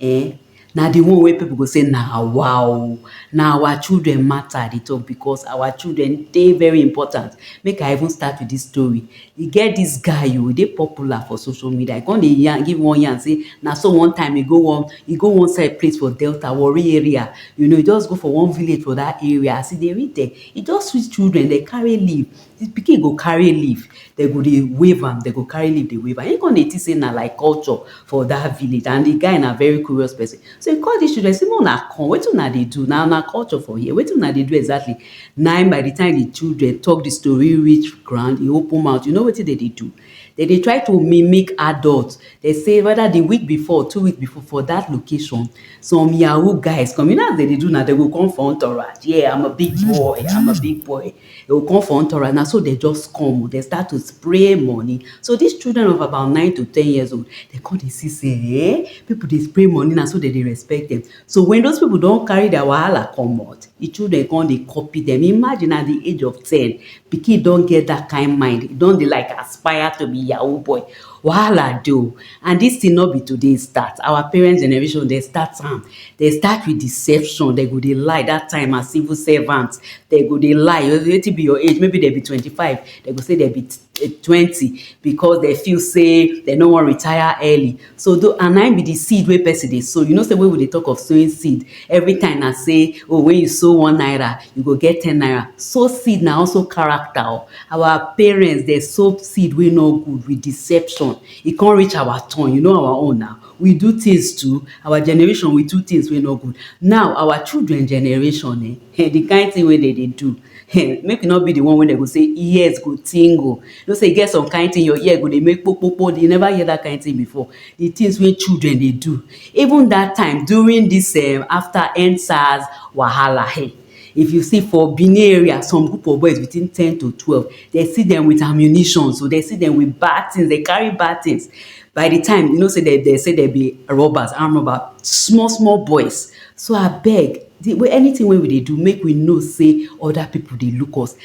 Eh, na the one wey people go say na awa o, na our children matter I dey talk because our children dey very important. Make I even start with this story. E get this guy o, e dey popular for social media. E come dey yarn, give one yarn say na so one time e go one, e go one side place for Delta, Warri area. You know, e just go for one village for that area. As e dey reach there, e just see children, dem carry leaf. Di pikin go carry leaf, dey go dey wave am, dey go carry leaf dey wave am. Im come dey think say na like culture for dat village and di guy na very curious person. So im call dis children say make una come, wetin una dey do? Na una culture for here, wetin una dey do exactly? Na im by di time di children talk di story reach ground, e open mouth, you know wetin dem dey do? Dem dey try to mimic adult. Dem say whether di week before or two week before for dat location, some yahoo guys come. You know as dem dey do now, dem go come for entourage, yeah, I'm a big boy, I'm a big boy. Dem go come for entourage, na so dem just come o, dem start to spray money. So dis children of about nine to ten years old, dem come dey see sey um pipu dey spray money, na so dem dey respect dem. So when those pipu don carry their wahala comot, de children come dey copy dem. Imagine at de age of ten, pikin don get dat kain mind, e don dey like aspire to be yahoo boy. Wahala dey o! And this thing not be today start. Our parents generation, they start am. They start with deception. They go they lie that time as civil servants. They go they lie. You to be your age. Maybe they be 25. They go say they be eh, 20 because they feel say they no want retire early. So do and I be the seed where person they sow. You know say when we they talk of sowing seed every time I say oh when you sow one naira you go get 10 naira. Sow seed now also character. Oh. Our parents they sow seed we no good with deception. E come reach our turn, you know our own na, we do things too, our generation we do things wey no good, now our children generation um the kind thing wey dem dey do um make e no be the one wey dem go say ears go tingle, you know say e get some kind thing your ear go dey make kpokpokpo, you never hear that kind thing before, the things wey children dey do, even that time during this um after EndSars wahala um If you see for Benin area, some group of boys between ten to twelve, dem see dem with ammunitions oh, dem see dem with bad things, dem carry bad things. By the time, you know say dem dem say dem be robbers, armed robbers, small small boys. So abeg, the way anything wey we dey do, make we know say other people dey look us.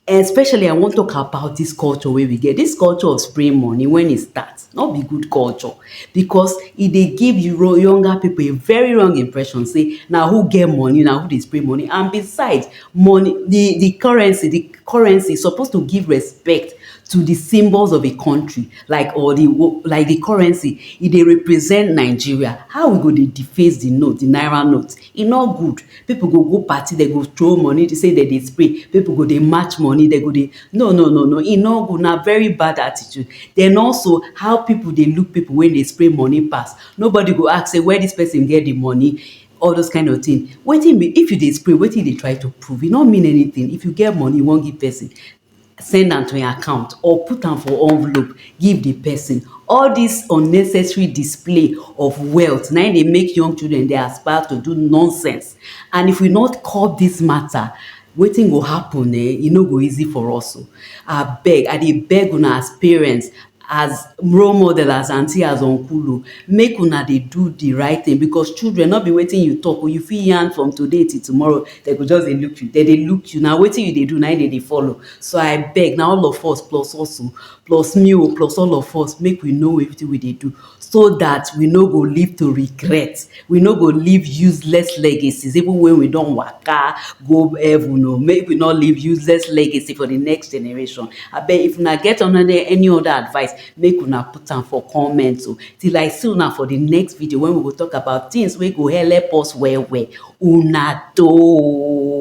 Especially I wan talk about dis culture wey we get. Dis culture of spraying money when e start, no be good culture. Because e dey give younger pipu a very wrong impression sey na who get money, na who dey spray money. And besides, money the the currency the currency suppose to give respect to the symbols of a country. Like or the like the currency, e dey represent Nigeria. How we go dey deface the note, the naira note? E nor good, pipu go go party dem go throw money dey say dem dey spray, pipu go dey match money dem go dey, no no no no e nor good na very bad attitude. Den also how pipu dey look pipu wey dey spray money pass, nobody go ask sey where dis person get di money, all dose kind of tin. Wetin be, if you dey spray wetin you dey try to prove, e nor mean anytin, if you get money you wan give person, send am to im account or put am for envelope give di pesin. All dis unnecessary display of wealth na im dey make young children dey aspire to do nonsense and if we no curb dis mata, wetin go happen um e no go easy for us o. Abeg, I dey beg una as parents. as role model, as aunty, as uncle o, make una dey do di right tin because children no be wetin you talk o, you fit yarn from today till tomorrow dem go just dey look you, dem dey look you na wetin you dey do na im dem dey follow. So I beg na all of us plus us o, plus me o, plus all of us make we know wetin we dey do. so dat we no go live to regret, we no go leave useless legacies even wen we don waka go heaven o, make we no leave useless legacy for di next generation. Abeg if una get any other advice make una put am for comment o, till I see una for di next video wen we go talk about tins wey go helep us well well, una too.